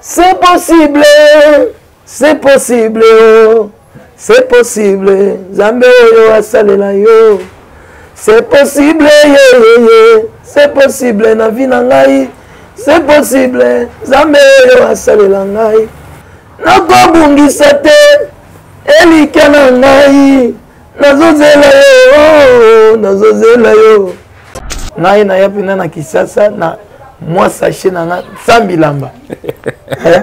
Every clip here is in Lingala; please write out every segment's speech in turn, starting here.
C'est possible, c'est possible, oh. c'est possible, Zambe oyo asalela yo. C'est possible, yeah, yeah, yeah. c'est possible na vie na ngai. C'est possible, Zambe oyo asalela ngai. Nakobungisa te, elikya na ngai. nazozela yo oh, nazozela yo ngai naya mpena na kisasa na mwa sache na nga sambilamba eh?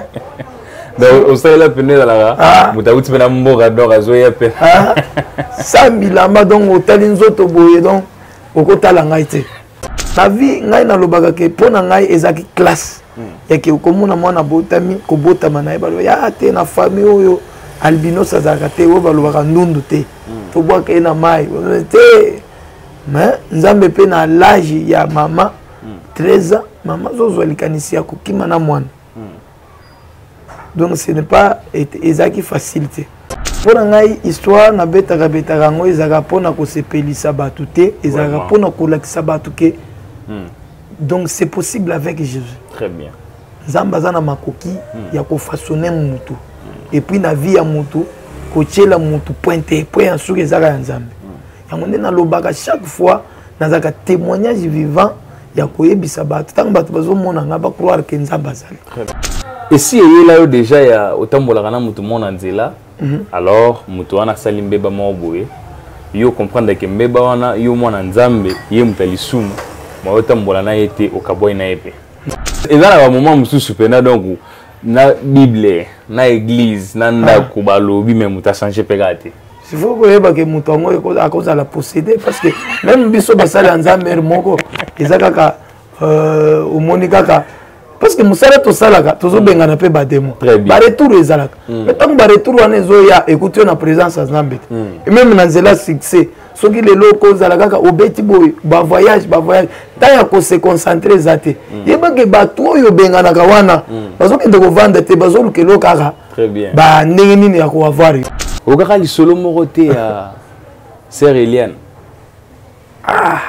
donc osalela mpena ezalaka ah. moto auti mpe na mboka donc azoya mpe ah. sambilamba donc otali nzoto boye donc okotala ngai te na vie ngai nalobaka ke mpo na ngai ezalaki classe hmm. yake okomona mwana abotami kobotama na ye baloba ya te na famille oyo albinos azalaka te oyo balobaka ndundu te hmm. tobwaka ye na mai te mais nzambe mpe na lage ya mama 13 ans mama azozwa likanisi ya kokima na mwana donc ce n'est pas ezalaki facile te mpo na ngai histoire nabetaka betaka yango ezalaka mpo na kosepelisa bato te ezalaka mpo na kolakisa bato ke hmm. donc c'est possible avec jésus très bien nzambe aza na makoki hmm. ya kofaçonne motu hmm. epuis na vie ya motu kotyela motu point te point ya suki ezaka ya nzambe hmm. yango nde nalobaka chaque fois nazalaka témoignage vivant ya koyebisa bato ntango bato bazomona ngai bacroire ke nzambe azali esi eyela yo deja ya otambolaka na motu mona nzela Mhm. alors moto wana asali mbeba moko boye yo comprendre ke mbeba wana yo mwana nzambe ye moto ya lisumu ma otambola na ye te okabwai na ye mpe eza na bamoment mosusu mpena donc na bible na eglise na ndako ah. balobi me moto achange mpe kaka te faut koyeba ke moto yango akozala possédé parce que même biso basali ya nzambe moko eza kaka euh, omoni kaka parce que mosala tosalaka tozobengana mpe bademo baretour ezalaka mm. mais ntango baretour wana ezoya ekuti yo na présence ya nzambe te mm. meme na nzela succès soki lelo oko ozala kaka obeti boye bavoyage bavoyage ntango ya kose concentre eza te mm. yebake bato oyo obenganaka wana bazokende kovanda te bazoluka elo kaka bandenge nini ya koavoir yo okaka lisolo moko te ya sœur eliane ah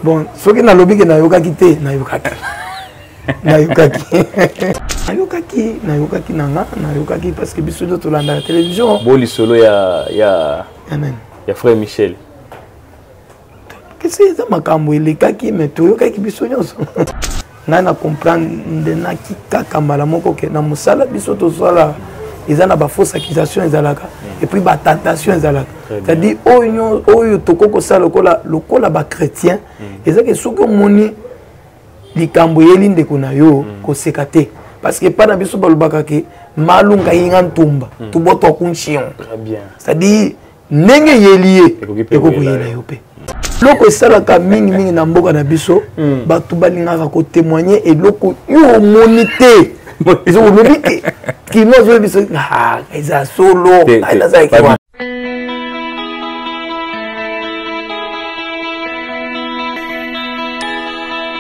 bon soki nalobi ke nayokaki te nayokaki nayokaki nayokaki nayokaki na nga nayokaki parce que biso nde tolandaka télévision bo lisolo ya ya ya nani ya frère michel kasi eza makambo elekaki me toyokaki biso nyonso ngai na comprendenaki kaka mbala moko ke na mosala biso tosala eza na bafausse accusation ezalaka mm. epuis batentation ezalaka c'est-à-dire oyo oyo tokoki kosala lokola lokola bachrétien mm. ezaki soki omoni likambo eyeli ndeko na yo mm. koseka te parce que epai na biso balobaka ke malunga yinga ntumba tobotwa kunchion c'est-à-dire ndenge eyeli ye ekoki koyela yo mpe eloko esalaka mingimingi na mboka na biso hmm. bato balingaka kotemoigne eloko yo omoni te ezolobi te kino azoyebi biso ah, eza solo nazalaki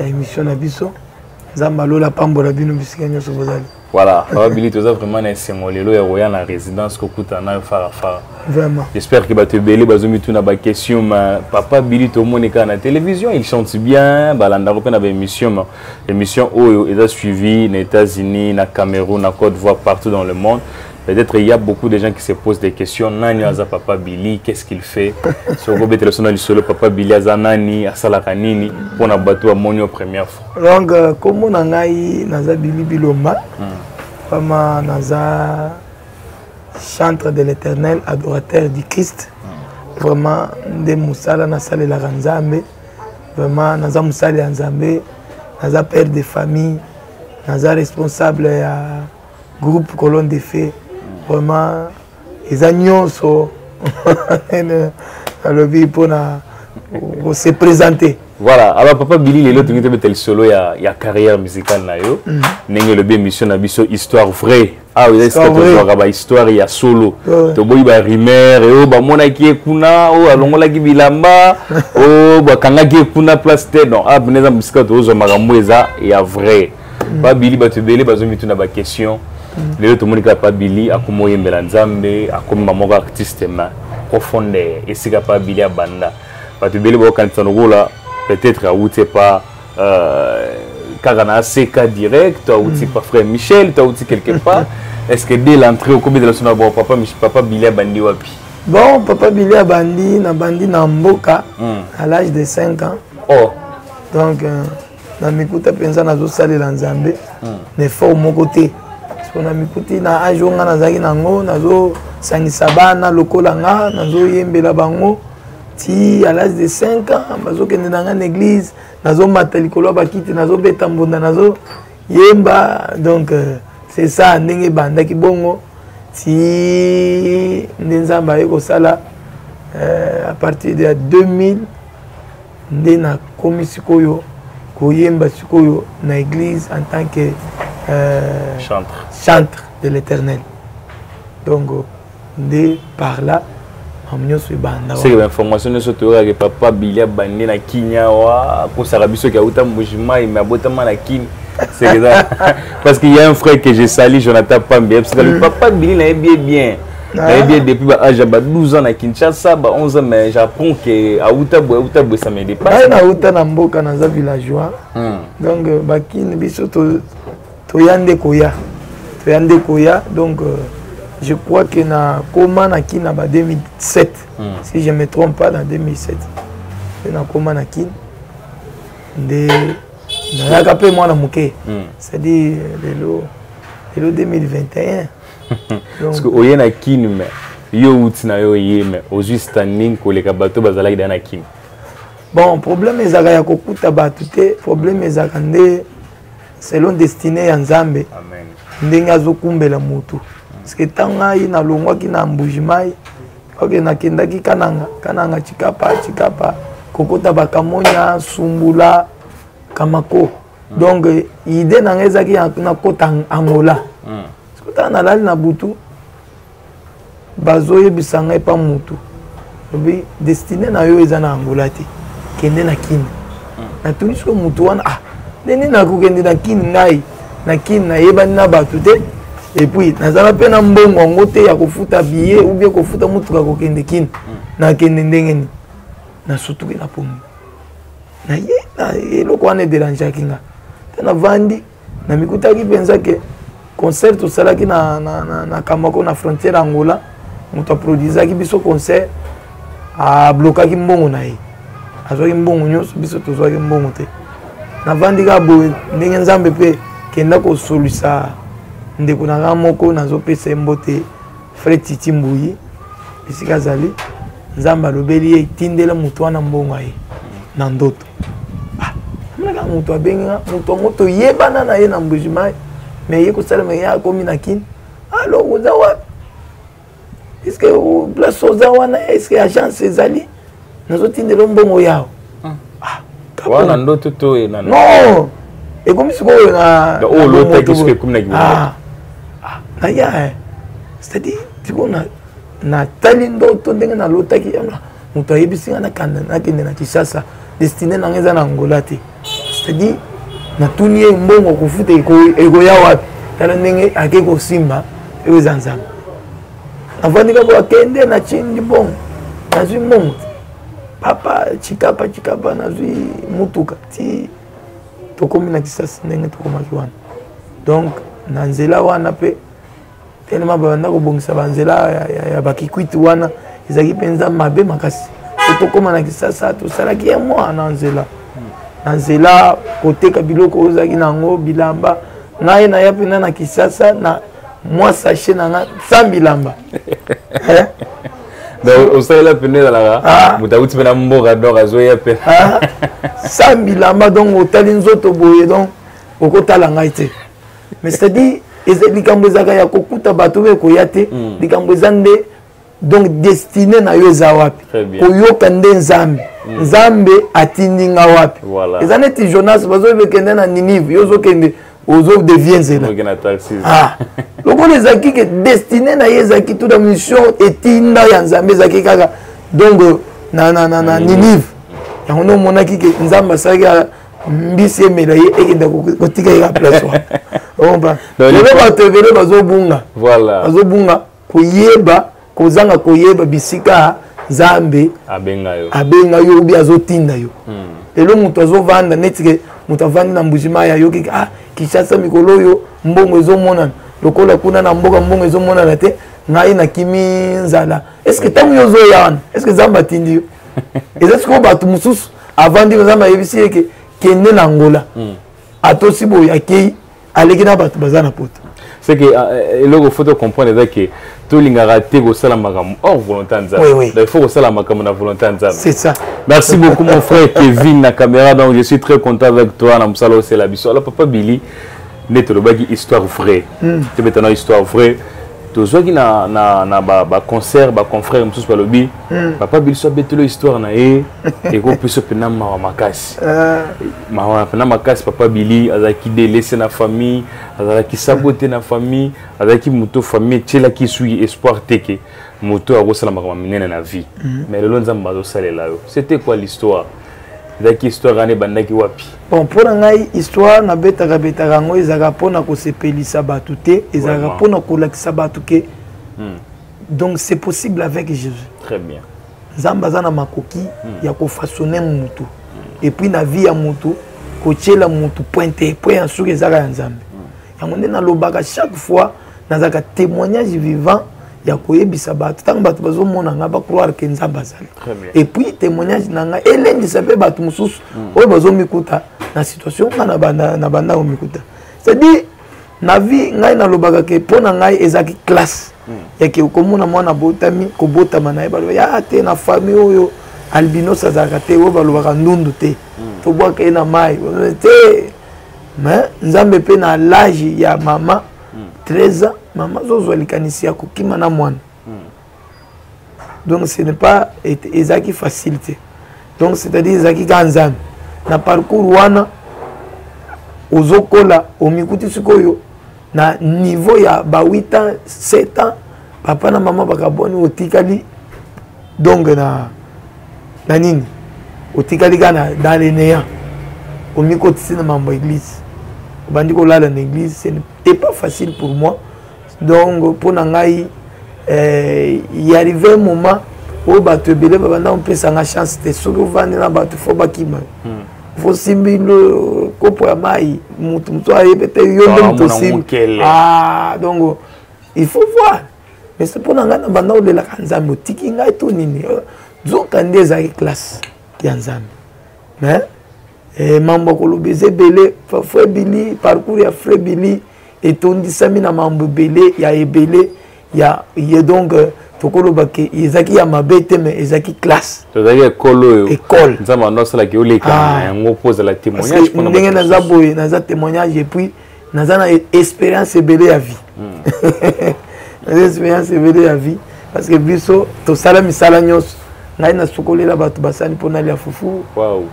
ya émission na biso nzambe alola apambola bino bisika nyonso bozali voilà papa bili toza vraiment na esengo lelo ya koya na résidence kokutana nayo farafara vraiment j'espère que bato ebele bazomituna baquestion ma papa bili tomoni kaka na télévision il chante bien balandako mpe na baémission ma émission oyo eza suivi na états-unis na cameroun na côte voire partout dans le monde Peut-être il y a beaucoup de gens qui se posent des questions. Nani aza papa Billy, qu'est-ce qu'il fait Si on peut son solo papa Billy aza nani, asala kanini pour na bateau à monio première fois. Donc euh, comme on a eu naza Billy Bilomba, hmm. vraiment naza chantre de l'Éternel, adorateur du Christ. Hmm. Vraiment nde musala na sala la Nzambe. Vraiment naza musala ya Nzambe, naza père de famille, naza responsable ya groupe colonne de feu vraiment eza nyonso alobi mpona se présenter voilà alors papa bili lelo tokoki tobeta lisolo ya, ya carrière musicale na yo mhm. ndenge mm. elobi émission na biso histoire vraie awa ah, eza esika tozwaka bahistoire ya solo toboyi barumeur oyo bamonaki ye kuna oyo alongolaki bilamba oyo bakangaki ye kuna place te donc awa ah, mpena eza mosika tozwa makambo eza ya vrai mm. pa bili bato ebele bazomituna baquestion mm. lelo tomoni kaka pa bili akoma oyembela nzambe akomi bamoko artiste ma profondeur esika pa bili abanda bato ebele bakokanisa lokola peut-être awuti epa euh, kaka na aseka direct to awuti mm. pa frère michel to awuti quelque part est ce que dès l'entrée okobetela so na bon papa, papa bili abandi wapi bon papa bili abandi nabandi na mboka mm. à l'âge de 5 ans oh. donc euh, na mikuta mpenza nazosalela nzambe hmm. na effort moko te po na mikuti na age oyo ngai nazalaki na yango nazosangisa bana lokola nga nazoyembela bango ti à l'âge de 5 ans bazokende na ngai na église nazomata likolo ya bakiti nazobeta mbunda nazoyemba donc euh, c'est ça ndenge ebandaki bongo ti nde nzambe aye kosala euh, à partir de 2000 nde nakomi sikoyo koyemba sikoyo na église en tant que euh, chantre. chantre de l'éternel donc nde par là makambo nyonso ebanda seke bainformation nyonso toyokaka ke papa bili abandi na kinia wa akosaka biso ke auta mbujimai me abotama na kini parce qu'il y a un frère que je sali jonathan pambi yebisaka mm. papa bili nayebi ye bien nayebi ye depuis ba age ya ba 12 ans na kinshasa ba 11 ans mais j'apprends ke awuta boye awuta boye ça me dépasse ngai nawuta na mboka naza villageois hmm. donc euh, bakini biso toya nde koya toya nde koya donc euh, je crois que na koma na kin na ba 2007 hmm. si je me trompe pas na 2007 mpe nakoma na kin nde nayaka mpe mwana moke hmm. c'est-à-dire euh, lelo lelo 2021 parce que oye na kin me yo outi na yo oye me ozwi standing koleka bato bazalaki da na kin bon problème ezalaka ya kokuta bato te problème ezalaka nde selon destiné ya nzambe ndenge azokumbela motu parceke ntango ngai nalongwaki na mbujimai oke nakendaki kananga kananga cikapa cikapa kokota bakamonya sumbula kamako mm. donc euh, idée na ngai ezalaki nakota angola mm. sikotala nalali na butu bazoyebisa ngai epa motu lobi destine na yo eza na angola te kende na kini mm. natuni siko motu wana ah ndeni nakokende na kini ngai na kini nayebani na bato te epuis nazala mpe na mbongo yango te ya kofuta biye ubie kofuta motuka kokende kini nakende ndenge nini nasutuki na pomi na ye eloko wana ederangeaki nga te navandi namikutaki mpenza ke concert tosalaki na, na, na, na kamako na frontière angola moto aproduisaki biso concert ablokaki mbongo na ye azwaki mbongo nyonso biso tozwaki mbongo te navandi kaka boye ndenge nzambe mpe kenda kosolisa ndeko na ngai moko nazopesa ye mbote fred titi mbuyi esika azali nzambe alobeli ye etindela moto wana mbongo ye na ndoto ah, amonaka moto abenga moto yango toyebana na ye na mbujimai me ye kosalema ye akomi na kini alo oza wapi eske place oza wana eske agence ezali nazotindela mbongo yawe hmm. ah, wana ndoto to ye na non ekomi sikoyo na oyo olotaki soki ekomi na kibongo ah, ah, naya eh. c'est-à-dire tikona natali ndoto ndenge nalotaki yango moto ayebisi ngai nakanda nakende na kinshasa destine na ngai eza na angola te c'est-à-dire natuni ye mbongo kofuta ekoya wapi tala ndenge ake kosimba eyo eza nzambe avandi kaka akende na cindi mbongo nazwi mbongo papa cikapa cikapa nazwi motuka ti tokomi na kisasi ndenge tokomaki wana donc na nzela wana mpe telema babanda kobongisa banzela ya, ya, ya bakikwiti wana ezalaki mpenza mabe makasi po tokóma na kisasa tosalaki ye mwa na nzela na nzela koteka biloko oyo ozalaki na yango bilamba ngai naya mpenza na kisasa na mwa sache na nga sambi lamba eh? donc osalela mpende ezalaka ah. moto auti mpe na mboka donc azoya mpe ah. sambi lamba donc otali nzoto boye donc okotala ngai te mais c'est-à-dire likambo ezalaka ya kokuta bato oyo ekoya te hmm. likambo eza nde donc destine na yo eza wapi koyoka nde nzambe mm. nzambe atindi nga wapi voilà. eza neti jonas bazokende na ninive yo ozokende ozodevie nzela ah. lokola ezalaki ke destine na ye ezalaki tuta mission etinda ya nzambe ezalaki kaka donc na, na, na, na mm. ninive yango nde omonaki ke nzambe asalaki mbisi emela ye ekenda kotika ye ka place wana oba lelo bato ebele bazobunga bazobunga koyeba kozanga koyeba bisika nzambe abenga yo abenga yo obi azotinda yo hmm. lelo moto azovanda neti ke moto avandi na mbujimai ayoki ah kinshasa mikolo oyo mbongo ezomonana lokola kuna na mboka mbongo ezomonana te ngai nakimi nzala estce ntango yo ozoya wana estce nzambe atindi yo eza sikoyo bato mosusu avandi nzambe ayebisi ye ke kende na ngola hmm. atosi boye akei aleki na bato baza na poto c'est que ah, eh, eloko faut comprendre eza ke tolingaka te kosala makambo hors volonté ya nzambe il faut kosala makambo na volonté ya nzambe c'est ça merci beaucoup mon frère kevin na caméra donc je suis très content avec toi na mosala osela biso alors papa billy nde tolobaki histoire vraie hmm. tobetana histoire vraie tozwaki na, na, na baconcert ba baconfrère mosusu balobi hmm. papa biso abetelo histoire na ye ekopiso mpena mawa makasi eh. mawa mpena makasi papa bili azalaki delese na famille azalaki sabo te na famille azalaki moto famille etielaki esui espoir teke moto akosala makambo minene na vie hmm. mais lelo nzambe azosalela yo c'était quoi l'histoire ezalaki histoire wana ebandaki wapi bon mpo na ngai histoire nabetaka betaka yango ezalaka mpo na kosepelisa bato te ezalaka mpo na kolakisa bato ke hmm. donc c'est possible avec jésus très bien nzambe aza na makoki hmm. ya kofaçonne motu hmm. epuis na vie ya motu kotyela motu point te point ya suki ezaka ya nzambe hmm. yango nde nalobaka chaque fois nazalaka témoignage vivant ya koyebisa bato ntango bato bazomona ngai bacroire ke nzambe azali epuis témoignage na ngai elendisa mpe bato mosusu oyo bazomikuta na situation ngai na bandako mikuta c'est-à-dire na vie ngai nalobaka ke mpo na ngai ezalaki classe hmm. yake okomona mwana botami kobotama na ye baloba ya ah, te na famille oyo albinos azalaka te oyo balobaka ndundu te hmm. tobwaka ye na mai te mais nzambe mpe na lage ya mama 13 hmm. ans mama azozwa likanisi ya kokima na mwana donc ce n'est pas ezalaki facile te donc c'est-à-dire ezalaki kaka nzambe na parcours wana ozokola omikuti sikoyo na niveau ya ba 8 ans 7 ans papa na mama bakabwani otikali donc na na nini otikali kaka na dans le néant omikotisi na mambo ya église obandi kolala na église c'est pas facile pour moi donc mpo na ngai eh, y arrive un moment oyo bato ebele babanda kopesanga chance te soki ovandi na bato fo bakima hmm. fo simbi kopo ya mai motu motu ayebe te yo nde moto osimbi ah, donc il faut voir mais se mpo na ngai na banda olelaka nzambe otiki ngai to nini nzoka nde ezalaki classe ya nzambe mais eh, mambo akoloba eza ebele frebili parcours ya frebili etondisami na mambo ebele ya ebele ya ye donc euh, tokoloba ke ezalaki ya mabe te mais ezalaki classe tozalaki ekole oyo ekole nzambe ando asalaki oleka na ah. yango mpo ozala témoignage ndenge naza boye naza témoignage epuis naza na expérience ebele ya vie hmm. naza expérience ebele ya vie parce que biso tosala misala nyonso ngai nasukolela bato basani mpo nalia fufu wow.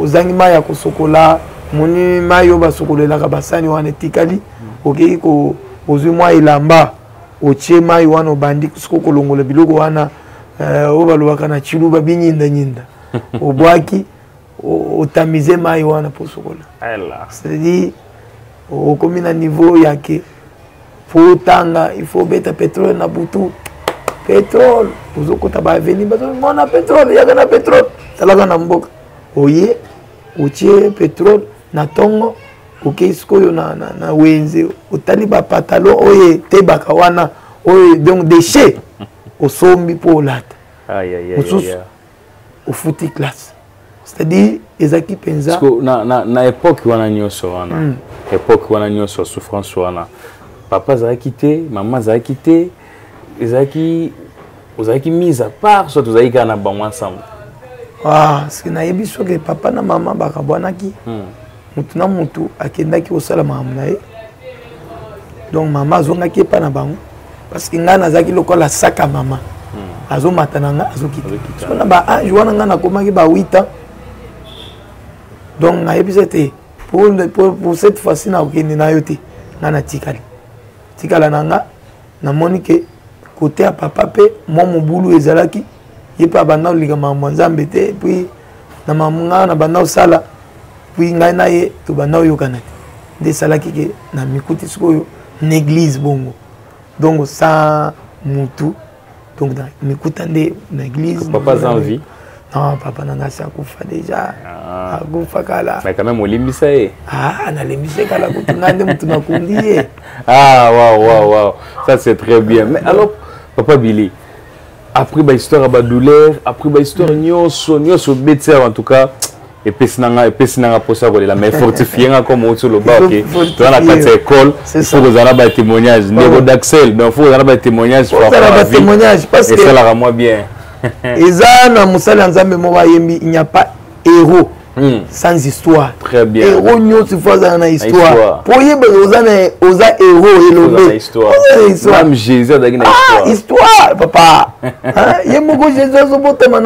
ozangi mai ya kosokola moni mai oyo basokolelaka basani wana etikali hmm. okei ko ozwi mwa elamba otie mai wana obandi soko kolongola biloko wana eh, oyo balobaka na ciluba binyindanyinda obwaki otamize mai wana mpo osokola cetadire okomi na niveau yake mpo otanga il faut obeta petrole na butu petrole ozokota baaveni bazomona petrole yaka na petrole talaka na mboka oye otie petrole na ntongo okei sikoyo na, na, na wenze otali bapatalo oyo etebaka wana oyo donc déchet osombi mpo olata mosusu ofuti classe c'est-à-dire ezalaki mpenza na, na, na époque wana nyonso wana mm. époque wana nyonso souffrance wana papa azalaki te mama azalaki te ezalaki ozalaki mise à part soit ozalaki kaka na bango ensemble ah, soki nayebi soki papa na mama bakabwanaki mm. motu na motu akendaki kosala makambo na ye donc mama azongaki epai na bango parce que ngai nazalaki lokola saka mama hmm. azomata na ngai azokita so na baage wana ngai nakomaki ba 8 ans donc nayebisa ete pour, pour, pour cette fois-ci nakokende na yo te ngai natikali tikala na ngai namoni ke kote ya papa mpe mwa mobulu ezalaki ye mpe abanda kolika makambo ya nzambe te epuis na makambo ngai nabanda kosala epuis ngai na ye tobanda koyokana te nde esalaki ke na mikuti sikoyo na eglise bongo donc sa mutu donc mikuta nde na église papa aza en vie non papa na ngai akufa déjà ah. akufa kala mais quand même olimbisa ye ah nalimbisa ye kala kutu ngai nde motu nakundi ye ah wow wow wow ça c'est très bien mais alors papa billy après bahistoire ya badouleur après bahistoire mm. nyonso nyonso obeti awa en tout cas epesi na ngai epesi na ngai mposa ya kolela mais fortifie ngai comme outi oloba oke toza na kati ya ekole fo kozala na batémoignage ndeko daxel donc fo kozala na batémoignage esalaka mwa bien eza na mosali ya nzambe moko ayembi il n'y a pas héros Hmm. sans histoire très bien héros nyonso fo azala na histoire po oyeba oza na oza héros elobememe jésus azalaki na ah, histoire papa ye moko jésus azobotama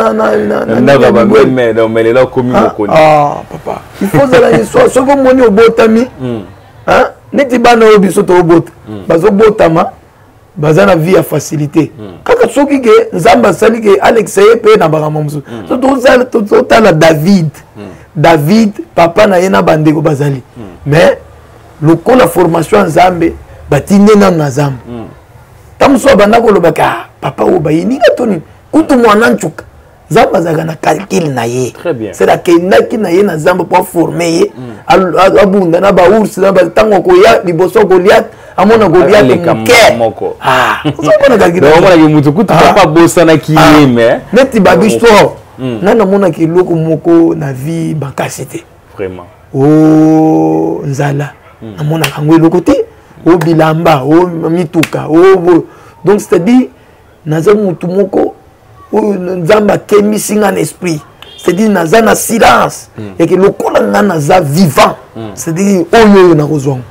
naomelela okomi mokoni papa ifo ozala yesua soki omoni obotami hmm. neti bana oyo biso tobota hmm. bazobotama baza na vie ya facilité hmm. kaka soki ke nzambe asali ke alekisa ye mpe na makambo mosusu so totala david david papa na ye na bandeko bazali mais lokola formation ya nzambe batinde nano na zamba ntango mosusu abanda koloba ka ah, papa oyo bayininga to nini kutu mwana ncuka nzambe azalaka na calcule na ye sela akendaki na ye na zamba mpo aforme ye mm. abunda na baours na ntango akoya liboso akolia amona goliate moke ah, ozomonaka motu kutu ah. papa abosanaki ye me neti babistro mm. nani amonaki eloko moko na vie makasi te vraiment o oh, nzala hmm. namonaka yango eloko te o oh, bilamba o oh, mituka o donc c'est à dire naza motu moko oyo nzambe akembisi ngai na esprit c'est à dire naza na silence hmm. eke lokola ngai naza vivant hmm. c'est à dire oyo oyo nakozwa ngo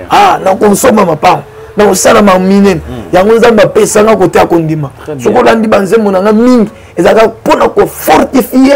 ah nakosomba mapango na kosala ma minene hmm. yango nzambe apesanga kote ya kondima soki olandi banzembo na ngai mingi ezalaka mpo na kofortifie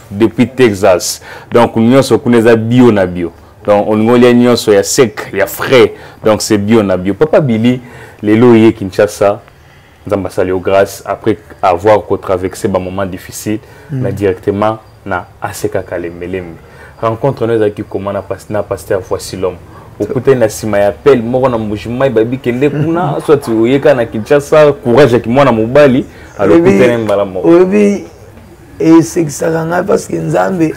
depuis Texas. Donc, nous sommes bio na bio. Donc, on est nous sommes ya sec, ya frais. Donc, c'est bio na bio. Papa Billy, les loyers Kinshasa, nous avons salué grâce après avoir traversé un moment difficile, mm. mais directement na ACK Kalemelem. Rencontre nous avec comment na pasteur, pasteur voici l'homme. okutani na nsima ya pele moko na mbujimai babi kende kuna soit oyeka na kinshasa courage ya kimwana mobali alokutani mbala moko esekisaka ngai parce que nzambe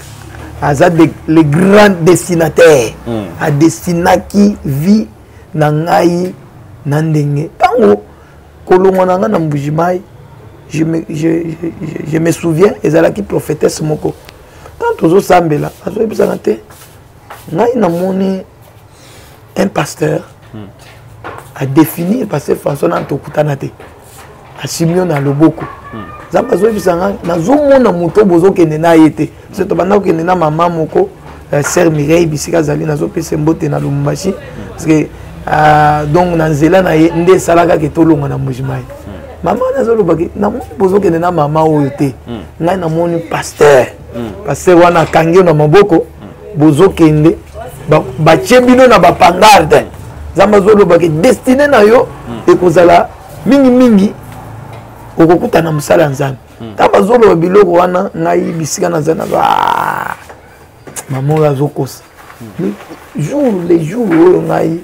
aza de, le grand destinataire mm. adestinaki vie na ngai na ndenge ntango kolongwa na ngai na mbujimai je me, je, je, je me souviens ezalaki prophétesse moko ntango tozosambela azoyebisaka te ngai namoni un pasteur mm. adefinir pasteur françois nani tokutana te asimio na loboko nzambe hmm. azoyebisa ngai nazomona moto oyo bozokende na ye te se tobanda kokende na mama moko euh, sœur mireille bisika azali nazopesa mbote na lubumbashi hmm. parce que euh, donc na nzela na ye nde esalaka ke tolonga na mbujimayi hmm. mama wana azolobaki namoni bozokende na mama oyo te ngai namoni pasteur pasteur wana akangi yo na maboko bozokende batie bino na bapangarde nzambe azoloba ke destine na yo hmm. ekozala mingimingi okokuta na mosala ya nzambe hmm. ntango bazoloba biloko wana ngai bisika naza na ah, mama oyo azokosa hmm. jour le jour oyo ngai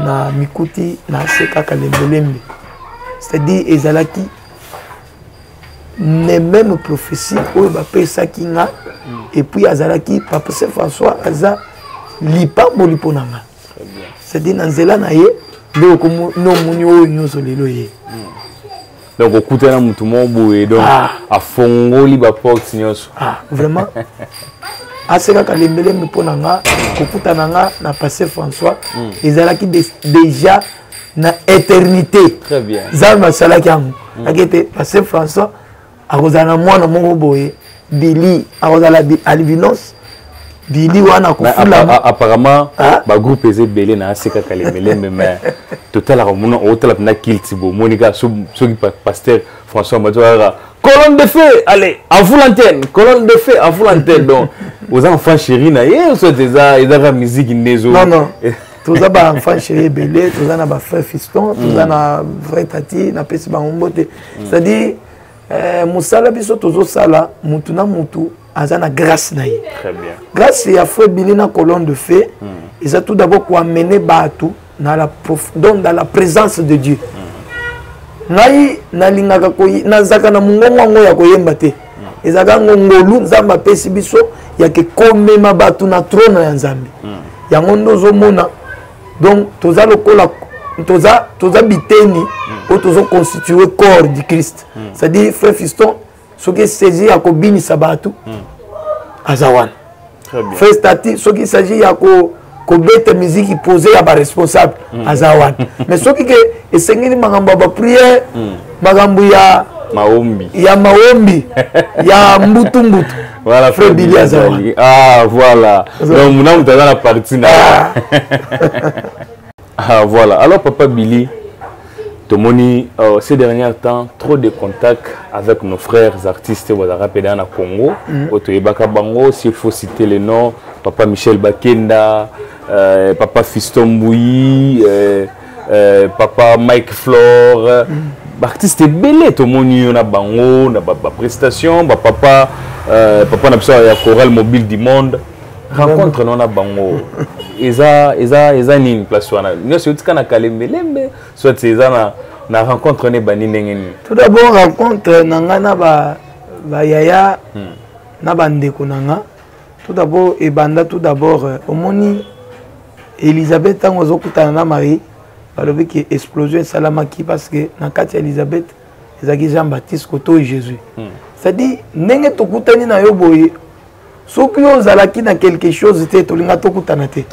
na mikuti na se kaka lembelembe c'est-à-dire ezalaki ne même prophétie oyo bapesaki nga epuis azalaki papa saint françois aza lipamboli mpo na nga c'est-à-dire na nzela na ye nde okomona omoni oyo nyonso lelo ye mm. donc okuta na motu moko boye donc ah. afongoli baporte nyonso ah, vraiment asekaka lembelembe mpo na nga kokutana nga na passe françois hmm. ezalaki déjà na éternité zambe asalaki yango hmm. ake ete passe françois akozala na mwana moko boye bili akozala albinos bili wana kofulama apparemment bagroupe eza ebele na ase kaka lemelembe mais totalaka mona otala mpena kilte bomoni kaka soki pasteur françois mati kaka colonne de feu allez à vous l'antenne colonne de feu à vous l'antenne donc oza enfant chéri na ye soit eza ezaka miziki nde ezo non non toza ba enfant chéri ebele toza na ba frère fiston toza hmm. na vrai tati napesi bango mbote hmm. c'est à dire eh, mosala biso tozosala mutu na mutu aza na grâce na ye grâce ya feu bini na colonne de feu mm. eza tout d'abord koamene bato na la prof... donc dans la présence de dieu mm. ngai nalingaka koy... nazalaka na mongongo yango ya koyemba te mm. ezalaka yango ngolu nzambe apesi biso yake komema bato na trone ya nzambe mm. yango nde ozomona donc toza lokola toza toza biteni hmm. oyo tozo constitue corps du christ hmm. c'est à dire frère fiston soki esaisi ya kobinisa bato hmm. aza wana frère stati soki esaisi ya ko kobeta miziki pose ya baresponsable mm. aza wana mais soki ke esengeli makambo ya bapriere mm. makambo ya maombi ya maombi ya mbutumbutu Voilà, Frère Billy Azali. Ah, voilà. Donc, mon âme, t'as la partie. Ah. ah, voilà. Alors, papa Billy, tomoni euh, ces derniers temps trop de contacts avec nos frères artistes bazalaka mpe na congo mm. oyo toyebaka bango s'il faut citer le nom papa michel bakenda euh, papa fiston mbuyi euh, euh, papa mike flore baartiste ebele tomoni yo na bango na baprestation bapapa euh, papa na biso ya choral mobile du monde rencontre no na bango eza eza eza nini place wana nyonso eutika na kalembelembe soit eza na na rencontre ne bandi ndenge nini tout d'abord rencontre na ngai na ba, ba yaya hmm. na bandeko na ngai tout d'abord ebanda tout d'abord euh, omoni elisabeth ntango azokutana na marie balobi ke explosion esalamaki parce que na kati ya elisabeth ezalaki jean baptiste koto jésus hmm. c'est-à-dire ndenge tokutani na yo boye soki yo ozalaki na quelque chose te tolinga tokutana te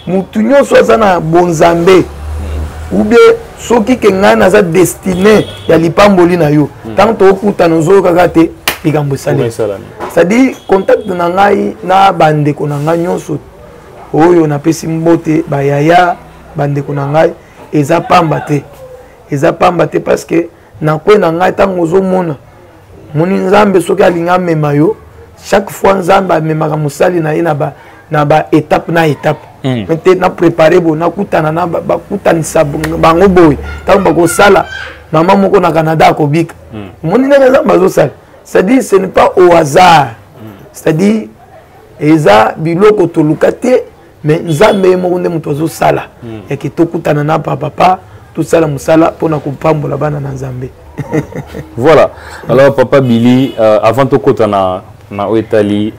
motu nyonso aza na bonzambe hmm. ou bien soki ke ngai naza destine ya lipamboli na yo ntango hmm. tokokutana ozoyokaka te likambo esalemi c'est-à-dire contact na ngai na bandeko na ngai nyonso oyo napesi mbote bayaya bandeko na ngai eza pamba te eza pamba te parce que na kwe na ngai ntango ozomona moni nzambe soki alingi amema yo chaque fois nzambe amemaka mosali na ye na ba, na ba étape na étape mm. te na prépare boye nakutana na bakutanisa bango boye ntango bakosala mama moko na canada akobika omoni mm. ndenge nzambe azosala c'est-à-dire ce n'est pas au hasard c'est-à-dire eza biloko toluka te mais nzambe ye moko nde moto azosala hmm. yake tokutana na papapa tosala mosala mpo na kopambola bana na nzambe voilà alors papa billy euh, avant tokota na, na oyo etali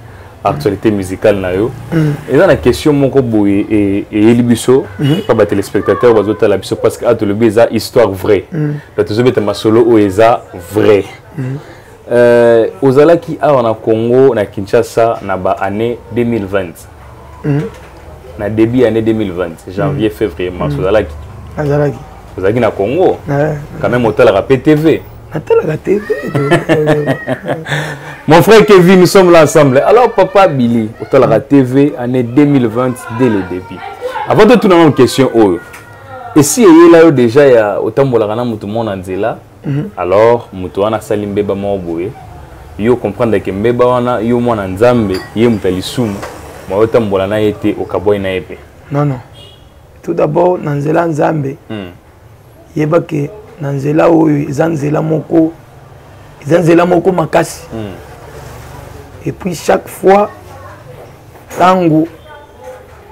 actualité musicale na yo hmm. eza na question moko boye e, eyeli biso hmm. mpa batelespectateur bazotala biso parce que atolobi ah, eza histoire vraie donc tozobeta masolo oyo eza vraie mm. euh, ozalaki awa na congo na kinshasa na ba année 2020 mm. na début année 2020 janvier mm. février mars mm. ozalaki azalaki ozalaki na congo ah, quand même otalaka mpe tv natalaka tv mon frère kevin nous sommes là ensemble alors papa billy otalaka tv année 2020 dès le début avant de tuna nano question oyo esi eyela yo déjà ya otambolaka na motu mona nzela Mhm. alors moto wana asali mbeba moko boye yo comprendre ke mbeba wana yo mwana nzambe ye moto ya lisumu ma otambola na ye te okabwai na ye mpe non non tout d'abord na nzela nzambe hmm. yeba ke na nzela oyo eza nzela moko eza nzela moko makasi hmm. et puis chaque fois ntango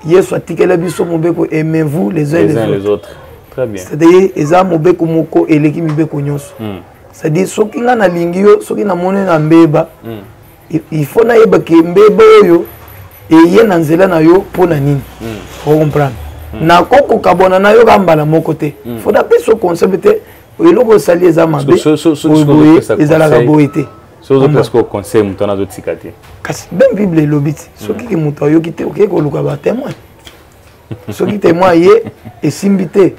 yesu atikela biso mobeko aimez-vous les uns les autres c'est-à-dire eza mobeko moko eleki mibeko nyonso hmm. c'est-à-dire soki ngai nalingi yo soki namoni na mbeba hmm. il faut nayeba ke mbeba oyo eye na nzela na yo mpo na nini hmm. ocomprendre nakoki kokabwana na yo ka mbala moko te fo napesa conseil te eloko osali eza mabe ezalaka boye te soki ozopesa ko conseil moto wana azotika te kasi meme bible elobi ti soki ke moto ayoki te okei koluka batemoin soki temoin aye esimbi te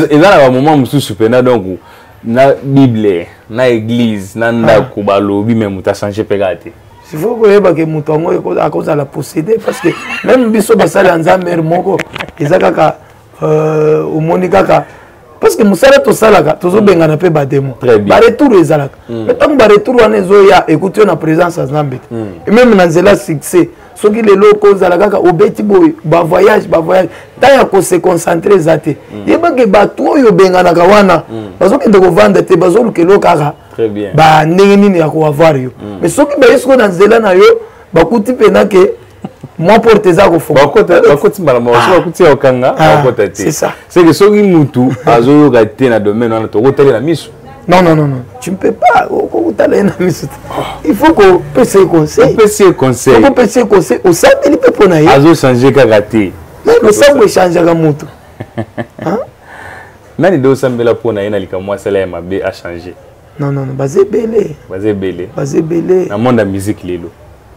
eza na bamoment mosusu mpena donc na bible na église na ndako ah. balobi me moto achange mpe kaka te sifo koyeba ke moto yango akozala possédé parce que meme biso basali ya nzambe moko eza kaka euh, omoni kaka parce que mosala tosalaka tozobengana mpe bademo baretour ezalaka mm. mais ntango baretour wana ezoya ekuti yo na présence ya nzambe te mm. meme na nzela succès soki lelo okozala kaka obeti boye bavoyage bavoyage ntango ya kose concentre eza te mm. yebake bato oyo obenganaka wana bazokende kovanda te bazoluka elo kaka bandenge nini ya koavoir yo mais soki baye sikoyo na nzela na yo bakuti mpenake mwa porte eza kofungabakoti mbala moko soki bakuti ya okanga bakota te seke soki mutu azoyoka te na domaine wana tokotalela miso non non non non tu ne peux pas okokutala ye na miso te il faut kopesa ye conseilopesi ye conseilopesi ye conseil osambeli mpe mpo na ye azochange kaka te losambo echangeaka moto nani nde osambela mpo na ye na likambo asala ya mabe achange non non baza ebele baza ebele baza ebele na monde ya musique lelo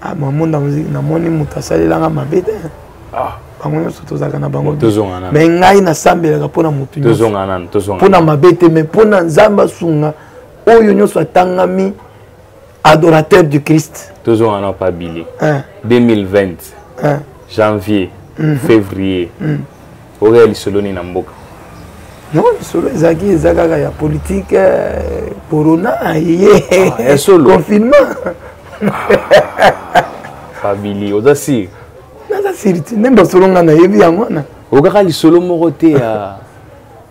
ah ma monde ya musique namoni moto asalelanga mabe te ah bango nyonso tozalaka na bango me ngai nasambelaka mpo na motu mpo na mabe te me mpo na nzambe asunga oyo nyonso atangami adorateur du christ tozonga na pabili 2020 janvier mm. février mm. oreya lisolo nini na mboka non lisolo ezalaki eza kaka ya politike eh, corona ye ah, confinement fabili ah, oza sire naza sire te nde basolo ngai nayebi yango wana okaka lisolo moko te ya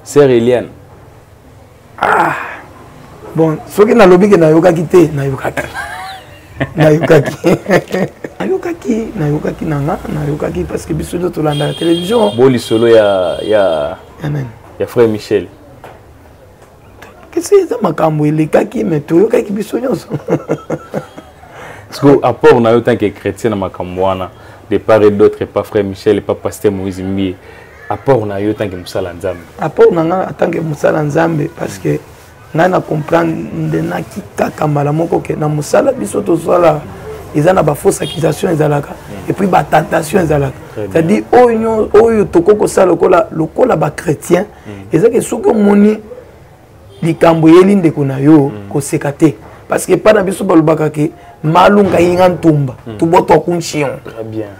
sere eliane ah bon soki nalobi ke nayokaki te nayokaki nayokaki nayokaki nayokaki na nga nayokaki parce que biso nde tolandaka télévision bo lisolo ya ya ya nani ya frère michel kasi eza makambo elekaki me toyokaki biso nyonso siko apport na yo tanke chrétien na makambo wana de part et d'autre epa frère michel epa pasteur moïse mbie apport na yo ntange mosala ya nzambe apport na ngai ntange mosala ya nzambe parce que ngai na comprendre naki kaka mbala moko ke na mosala biso tosala eza na bafausse accusation ezalaka mm. epuis batentation ezalaka c'est-à-dire oyo oyo tokoki kosala lokola lokola bachrétien mm. ezaki soki omoni likambo eyeli ndeko na yo mm. koseka te parce que epai na biso balobaka ke malunga yinga ntumba tobotwa kunchion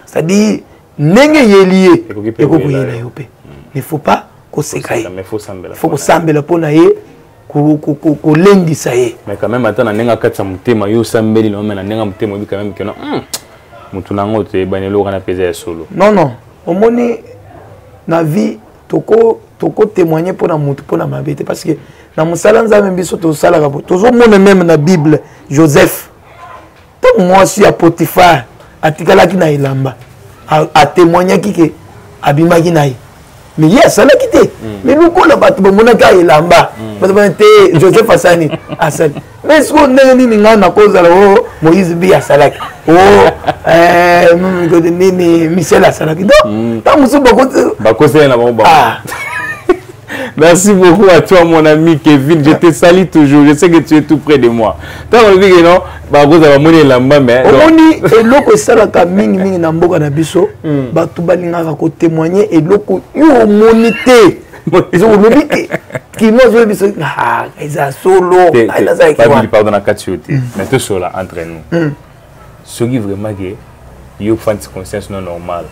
c'est-à-dire ndenge eyeli ye ekoki koyela yo mpe ne faut pas koseka ye faut kosambela mpo na ye kolendisa ye mais quand même ata na ndenge akatisa motema yo osambeli nome na ndenge motema oyebi quand même keno hmm, motu na yango toyebani eloko wana mpenza ya solo non non omoni na vie toko toko témoigner mpo na motu mpo na mabe te parce que na mosala nzambe biso tosalaka tozomona meme na bible joseph ntango mwasi ya potifare atikalaki na elamba atemoignaki ke abimaki na ye me ye asalaki te me hmm. lokola bato bamonaki elamba hmm. bato bana te joseph asani asali me sikoyo ndenge nini ngai nakozala o oh, moïse bi asalaki o oh, eh, nini michel asalaki donc hmm. ntango mosusu bakosela na bango ah. Merci beaucoup à toi, mon ami Kevin. Je te salue toujours. Je sais que tu es tout près de moi. T'as envie que non bakozala bamoni elamba me omoni eloko esalaka mingi mingi na mboka na biso hmm. bato balingaka kotemoigne eloko yo omoni te olobi te kino azoyebisa ah, eza solo pardon na kati yo te hmm. mais tosola entre nous hmm. soki vraiment ke yo fandisi conscience no normal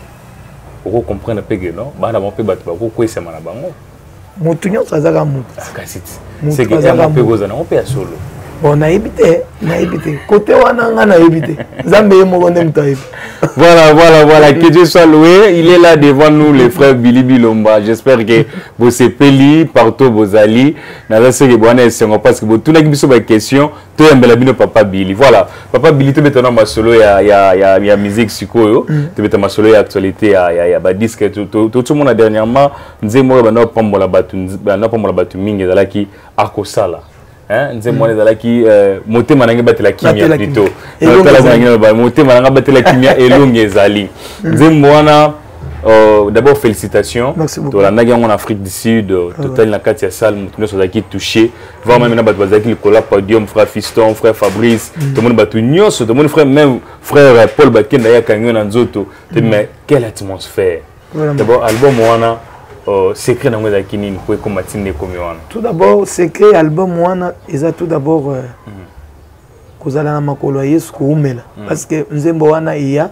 okocomprendre mpe ke non bana bango mpe bato bakokwesama na bango motu nyonso aza kaka motu mpe ya solo bon nayebi te nayebi te kote wana nga nayebi te nzambe ye moko nde moto ayebi voilà voilà voilà que dieu soit loué il est là devant nous le frère billy bilomba j'espère que bosepeli partout bozali naza soki bowana esengo parce que botunaki biso baquestion toyambela bino papa billy voilà papa billy tobeta na masolo ya, ya, ya, ya musique sikoyo mm. tobeta masolo ya actualité ya, ya, ya badisque totomona dernièrement nzembo oyo banda kopambola bato banda kopambola bato mingi ezalaki akosala nzembo wana ezalaki euh, motema na ngai batela kimia plito motema na ngai batela kimia elongi ezali nzembo wana Euh, d'abord félicitations tolandaki yango na afrique du sud euh, ah totali na kati ya salle moto nyonso azalaki touché voir meme na bato bazalaki likolo ya podium frère fiston frère fabrice mm. tomoni bato nyonso tomoni frère même frère paul bakenda ye akangi yo na nzoto te mm. mais quelle atmosphère d'abord album wana euh, secret nango ezalaki nini mpo ekoma ntina ekomi wana tout d'abord secret ya album wana eza tout d'abord euh, mm. kozala na makolo ya yesu koumela mm. parce que nzembo wana eya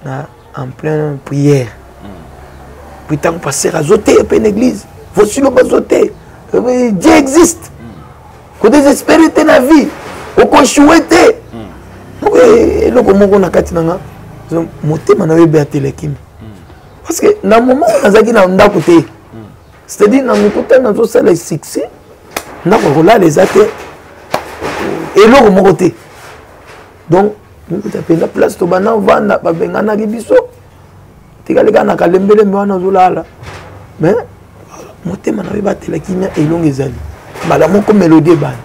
na en plein prière mm. puis ntango pasteur azoteya mpe na église vosilo bazoteya euh, dieu existe ko desespere te na vie okoshue te hmm. eh, eloko moko na kati na nga motema na yo ebe atelekimi hmm. parce que na moment oyo nazalaki na ndako te hmm. c'est-à-dire na mokuta nazosala succès ndako akolala eza te eloko moko te donc mokuta mpenza place tobanda ovanda babenganaki biso tikali kaka na kalembelembe wana ozolala mais motema na yo ebatela kimia elongo ezali mbala moko melodie ebani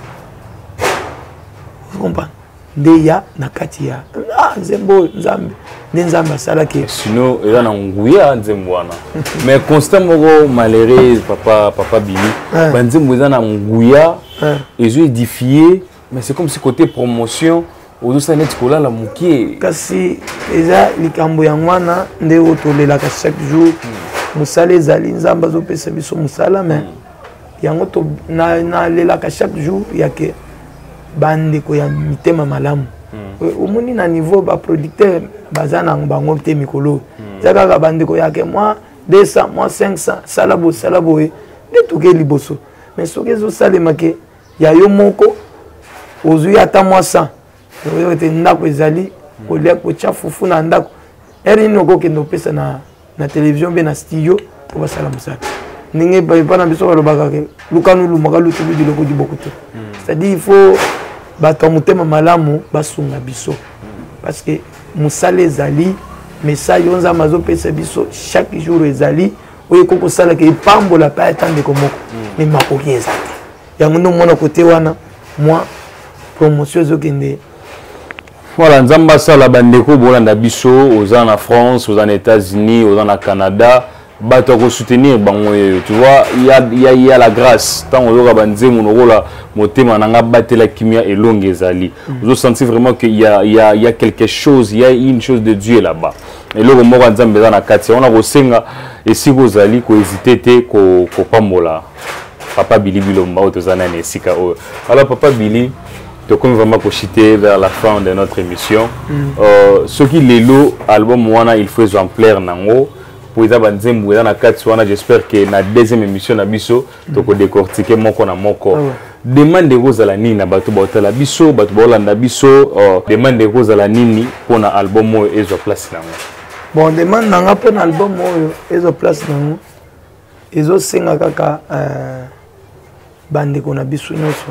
comprendre nde ya na kati ya ah, nzembo oyo nzambe nde nzambe asalaki sino eza na nguya nzembo wana mais constat moko malheureux papa papa bini eh. banzembo eza na nguya eh. ezo edifie mais c'est comme si côté promotion ozosala neti kolala mokie kasi eza likambo yango wana nde oyo tolelaka chaque jour hmm. mosala ezali nzambe azopesa biso mosala mais hmm. yango nalelaka chaque jour yake bandeko ya mitema malamu hmm. omoni na niveau baproducteur baza na bango te mikolo eza kaka bandeko yake mwa 200 mwa 500 sala bosala boye nde toke liboso mais soki ezosalema ke ya yo moko ozwi ata mwa san oyebi ete ndako ezali kolia kotya fufu na ndako ere nini okokende opesa na, na televizio mpe na studio mpo basala mosala ndenge epa na biso balobaka ke lukanu lumaka lutubi diloko diboko te hmm. c'est-à-dire il faut bato ya motema malamu basunga biso parce que mosala ezali message oyo nzambe azopesa biso chaque jour ezali oyo ekoki kosalaka epambola mpe ata ndeko moko me hmm. makoki eza te yango nde omona kote wana mwa promotion ezokende voilà nzambe asala bandeko bolanda biso oza na france oza na états-unis oza na canada bato ya kosoutenir bango yeyo tu vois ya, ya, ya la grâce ntango oyoka banzembo lokola motema na ngai batela kimia elongi ezali mm. ozosentir vraiment que ya, ya, ya quelque chose ya une chose de dieu là-bas eloko moko ya nzambe eza na kati yango nakosenga esika ozali kohezite te kopambola papa bili bilomba oyo toza nani esika oyo alors papa bili tokomi vraiment kochite vers la fin de notre émission mm. euh, soki lelo album wana il faut ezwa ampleur nango mpo eza banzembo eza na kati wana j'espère que na deuxième émission na biso toko décortiquer moko na moko ah demande ekozala nini na bato baotala biso bato baolanda biso oh, demande ekozala nini mpo na album oyo ezwa place na yango bon demande na nga mpo na album oyo ezwa place na yango ezosenga kaka euh, bandeko na biso nyonso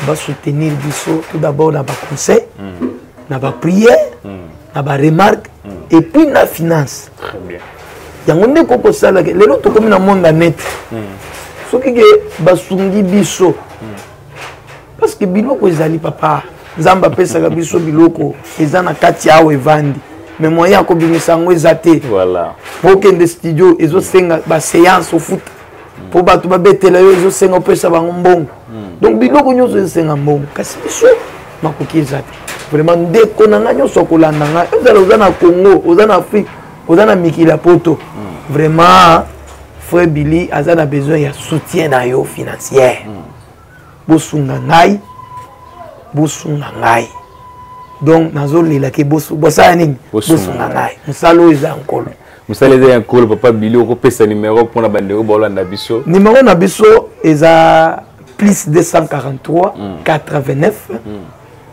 basoutenir biso tout d'abord na baconseil mm. na baprière mm. na baremarque mm. et puis na finance Très bien. yango nde kokosalaka lelo tokomi na monde ya net hmm. soki ke basungi biso hmm. parce que biloko ezali papa nzambe apesaka biso biloko eza na kati ya awa evandi me moyen ya kobimisa yango eza te okende studio ezosenga baseance ofuta mpo bato babetela yo ezosenga opesa bango mbongo hmm. donc biloko nyonso ezosenga mbongo kasi biso makoki eza te vraiment ndeko na ngai nyonso akolanda ngai ozala oza na congo oza na afrique oza na mikili ya poto vraiment frère billy aza na besoin ya soutien na yo financière bosunga ngai bosunga ngai donc nazolela ke bosala nini bosunga ngai mosala oyo eza nkolo mosala eza ya nkolo papa billy okopesa numero mpona bandeko baolanda biso numero na biso eza plus 243 89 mm.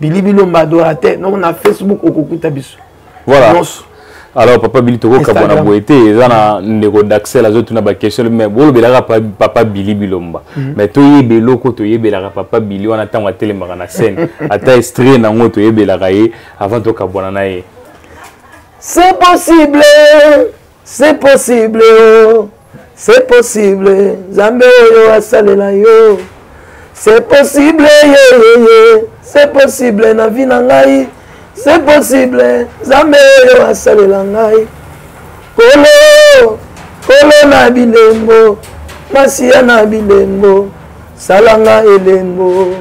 bili bilomba adorateur donc na facebook okokuta biso voilà Nos. alors papa bili tokokabwana boye te eza na ndeko daxel azotuna baquestion mais bolobelaka papa bili bilomba mhm. mais toyeba eloko toyebelaka papa bili wana ntango atelemaka na scène ata estrie na yango toyebelaka ye avant tokabwana na ye c'est possible c'est possible oh, c'est possible nzambe oyo asalela yo c'est possible yeyeye c'est possible na vie na ngai c'est possible nzambe oyo asalela ngai kolo kolo na bilembo masiya na bilembo salanga elembo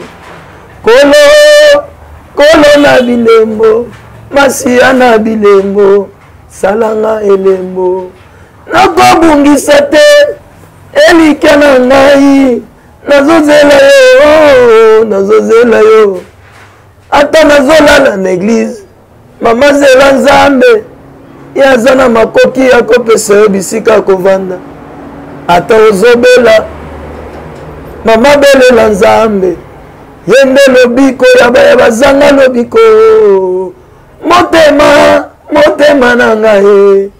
kolo kolo na bilembo masiya na bilembo salanga elembo nakobungisa te elikya na ngai nazozela yo oh, nazozela yo ata nazolala na eglize mama zela nzambe ye aza na makoki ya kopesa yo bisika ya kovanda ata ozobela mama belela nzambe ye nde lobiko ya baye bazanga lobiko motema motema na ngai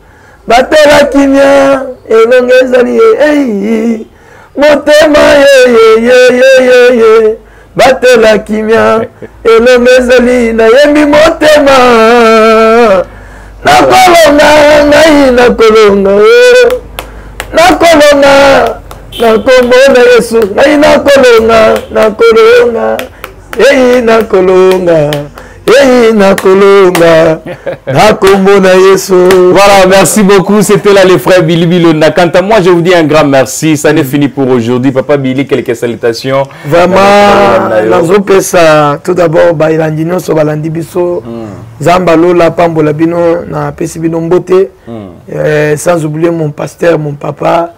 batela kimia elongi ezali ye ei motema yeyeyeyeyeye batela kimia elongi ezali nayembi motema nakolonga ngai nakolonga o nakolonga na nkombo na yesu ngai nakolonga nakolonga ei nakolonga Hey, nakolonga nakomona yesu voilà merci beaucoup c'était là les frères Billy Bilonda quant à moi je vous dis un grand merci ça n'est mm. fini pour aujourd'hui papa Billy quelques salutations vraiment nazopesa tout d'abord baelandi nyonso balandi biso mm. nzambe alola apambola bino napesi bino mbote mm. eh, sans oublier mon pasteur mon papa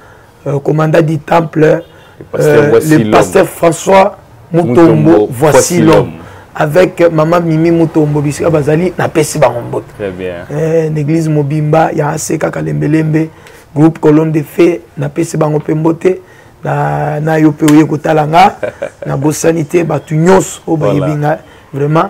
euh, commandant du temple, le pasteur, euh, voici le pasteur François Mutombo, voici l'homme. Avec maman Mimi Mutombo, bisika bazali na pesi bango mbote. Très bien. Euh, l'église Mobimba, ya aseka kalembelembe, groupe colonne de fée, na pesi bango pe mbote. Na, na yo pe oye kotala nga, na bosani te batu nyonso oyo bayebi nga vraiment